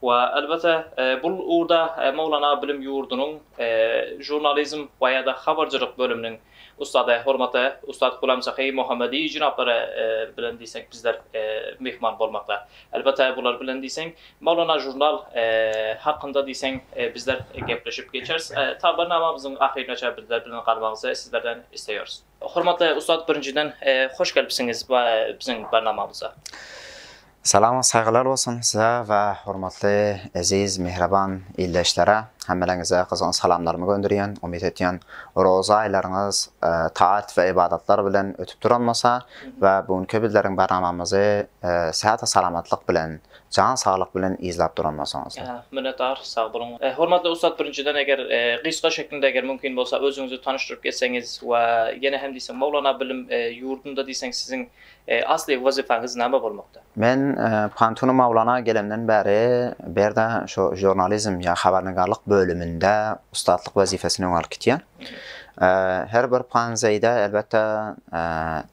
We, elbetde, bul ugurda Mowlana bilim ýurdunyň žurnalizm we, ýa-da, habarjylyk bölüminiň ussady, hormatly ussat Gulam Sahy Mohammediý jenaplary bilen diýseň bizler myhman bolmakda. Elbetde, bular bilen diýseň Mowlana žurnal hakynda diýseň bizler gepleşip geçeris. Tabynamamyzyň ahyryna çenli bizler bilen galmagyňyzy sizlerden isleýäris. Hormatly ussat birinjiden hoş gelipsiňiz biziň barnamamyza. Salam saýgylar bolsun size we hormatly eziz mihriban ildeşlere hemmeleriňize gyzgyn salamlarymy gönderýän umyt etýän roza aýlaryňyz taat we ybadatlar bilen ötüp duranmasa we bu günki bizleriň barnamamyzy sähata salamatlyk bilen Jan saglyk bilen yzlap duran bolsaňyz. Ýa, minnetdar, sag boluň. Hormatly ussat birinjiden eger gysga şeklinde eger mümkin bolsa özüňizi tanyşdyryp geçseňiz we ýene hem diýseň Mowlana bilim ýurdunda diýseň siziň asly wazypaňyz name bolmakda? Men Pantunu Mowlana gelemden bäri bu ýerde şu žurnalizm ýa habarnigarlyk bölüminde ussatlyk wazipesini öňe alyp gitýän. Her bir panzeýde elbetde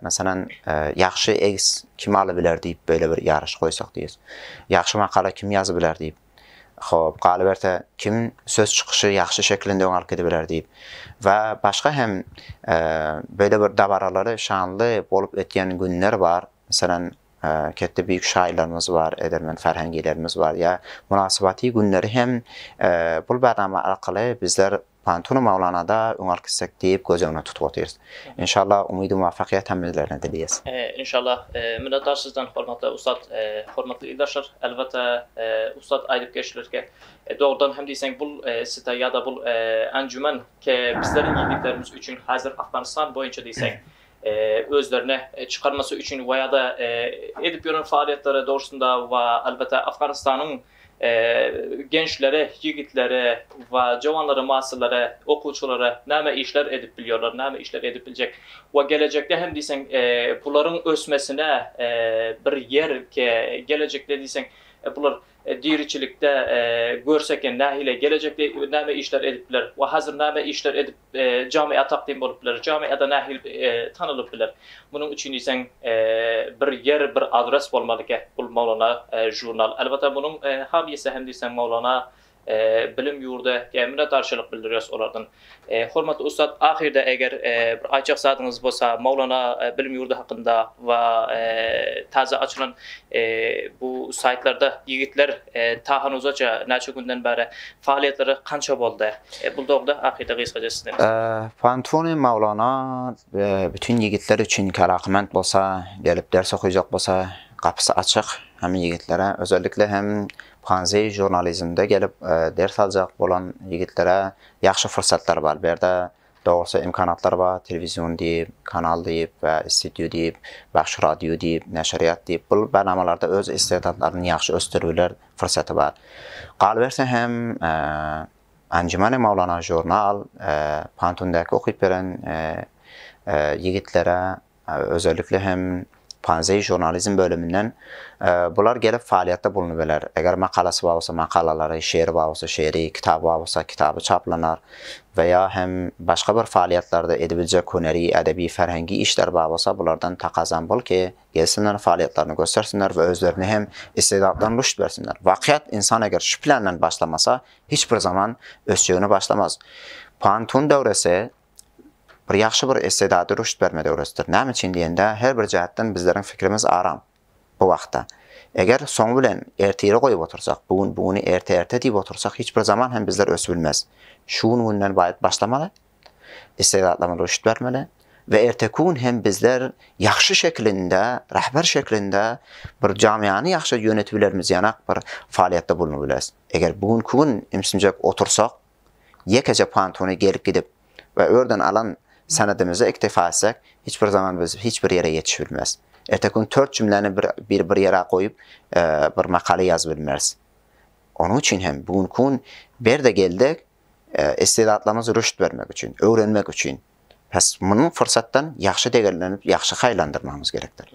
Meselem, Ýagşy egis kim alybiler diýip beýle bir ýaryş goýsak diýs. Ýagşy makala kim ýazybiler diýip. Hop, galyberse, kim söz çykyşy ýagşy şekilinde öňe alyp gidibiler diýip. We başga hem beýle bir dabaralary şanly bolup ötýän günler bar. Meselem, ketdi beýik şaýyrlarymyz bar, edermen Ferhengilerimiz bar. Ýa mynasybaty günleri hem bul bernama arkaly bizler Pantunu Mawlanada öň alyp gitsek diýip göz öňüne tutup otyrys. Enşallah umydy muwaffakyýet hemmelerine dileýäs. Enşallah minnetdar sizden hormatly ussat. Hormatly ildeşler elbetde ussat aýdyp geçdilerki dogrudan hem diýseň bul site ýada bul anjuman ke bizleriň ýigitlerimiz üçin hazir Afganistan boýunça diýseň özlerine çykarmasy üçin we ýada edip ýören faaliýetleri dogrusynda we elbetde Afganistanyň Gençlere, ýigitlere we jowanlara, maşsalara, okuwçylara näme işler edip bilýärler, näme işler edip biljek we gelejekde hem diýseň bularyň ösmesine bir ýer gelejekde diýseň bular diriçilikde görse eken nähili gelejekde näme işler edip biler we hazir näme işler edip Jamiýa takdim bolup biler. Jamiýada nähili tanylyp biler? Munuň üçin diýseň bir ýer, bir adres bolmalyka. Bul Maulana žurnal. Elbetde munuň hamyýesi hem diýseň Maulana bilim ýurdy. Minnetdarçylyk bildirýäris olardan. Hormatly ussat ahyrda eger bir aýtjak zadyňyz bolsa Maulana bilim ýurdy hakynda we täze açylan bu saýtlarda ýigitler ta hanuzaça näçe günden bäri Faaliýetleri kança boldy? E bul dogda akyda gysgaca sizden. Fantuni Maulana bütün ýigitler üçin kerakyment bolsa gelip ders okyjak bolsa gapysy açyk hem ýigitlere özellikle hem Panzi jurnalizmde gelip ders aljak bolan ýigitlere ýagşy fursatlar bar bu ýerde Dogrusy imkanatlar bar, telewizion diýip, kanal diýip we studio diýip, bagşy radio diýip, neşirýat diýip, bul barnamalarda öz istedadlaryny ýagşy ösdürüler fursaty bar. Galyberse hem Anjumany Mawlana žurnal Pantundäki okyp beren ýigitlere Özellikle hem Panzei Žurnalizm bölüminden bular gelip faaliýetde bulunybeler. Eger makalasy bar bolsa makalalary, şeri bar bolsa şeri, kitaby bar bolsa kitaby çaplanar we ýa hem başga bir faaliýetlerde edibiljek hüneri, edebi, ferhengi işleri bar bolsa bulardan takazam bol ki, gelsinler faaliýetlerini göstersinler we özlerini hem istedatlaryny rüşt bersinler. Wakyýat insan eger şu plenden başlamasa hiç bir zaman ösjegine başlamaz. Pan Tun döwresi bir ýagşy bir estedady rüşt bermede öwretdir. Näme üçin diýende, her bir jähtden bizleriň fikrimiz aram bu wagtda. Eger soňy bilen ertire goýup otursak, bu gün bu güni erte-erte diýip otursak, hiç bir zaman hem bizler ösüp bilmeris. Şu gün günden baýat başlamaly, estedatlarymyza rüşt bermeli we erteki gün hem bizler ýagşy şekilinde, rahber şekilinde bir jamyýany ýagşy ýönetip bilerimiz ýanak bir faaliýetde bulunyp bileris. Eger bu günki gün imsinjek otursak, ýekeje pantuny gelip-gidip we örden alan senedimize iktifa etsek, hiç bir zaman biz hiç bir ýere ýetişip bilmeris. Erteki gün tört jümläni bir bir ýere goýup, bir makala ýazyp bilmeris. Onuň üçin hem bu günki gün Berde geldik, istidatlarymyzy rüşt bermek üçin, öwrenmek üçin. Bes, muny pursatdan ýagşy degerlenip, ýagşy haýlandyrmagymyz gerekdir.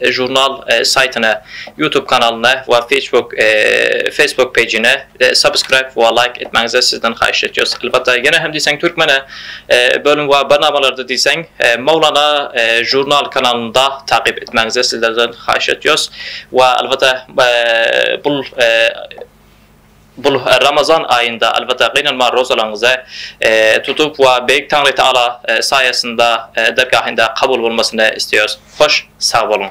Žurnal saýtyna, YouTube kanalyna we Facebook Facebook pejine subscribe we like etmäňizi sizden haýyş etýäs. Elbetde ýene hem diýseň türkmene bölüm we barnamalarda diýseň Mowlana žurnal kanalynda takyp etmäňizi sizlerden haýyş etýäs we elbetde bul Bul Ramazan aýynda albatta gynanma rozalaryňyzy tutup we Beýik Taňry Taala saýasynda dergahynda kabul bolmasyny isleýäris. Hoş sag boluň.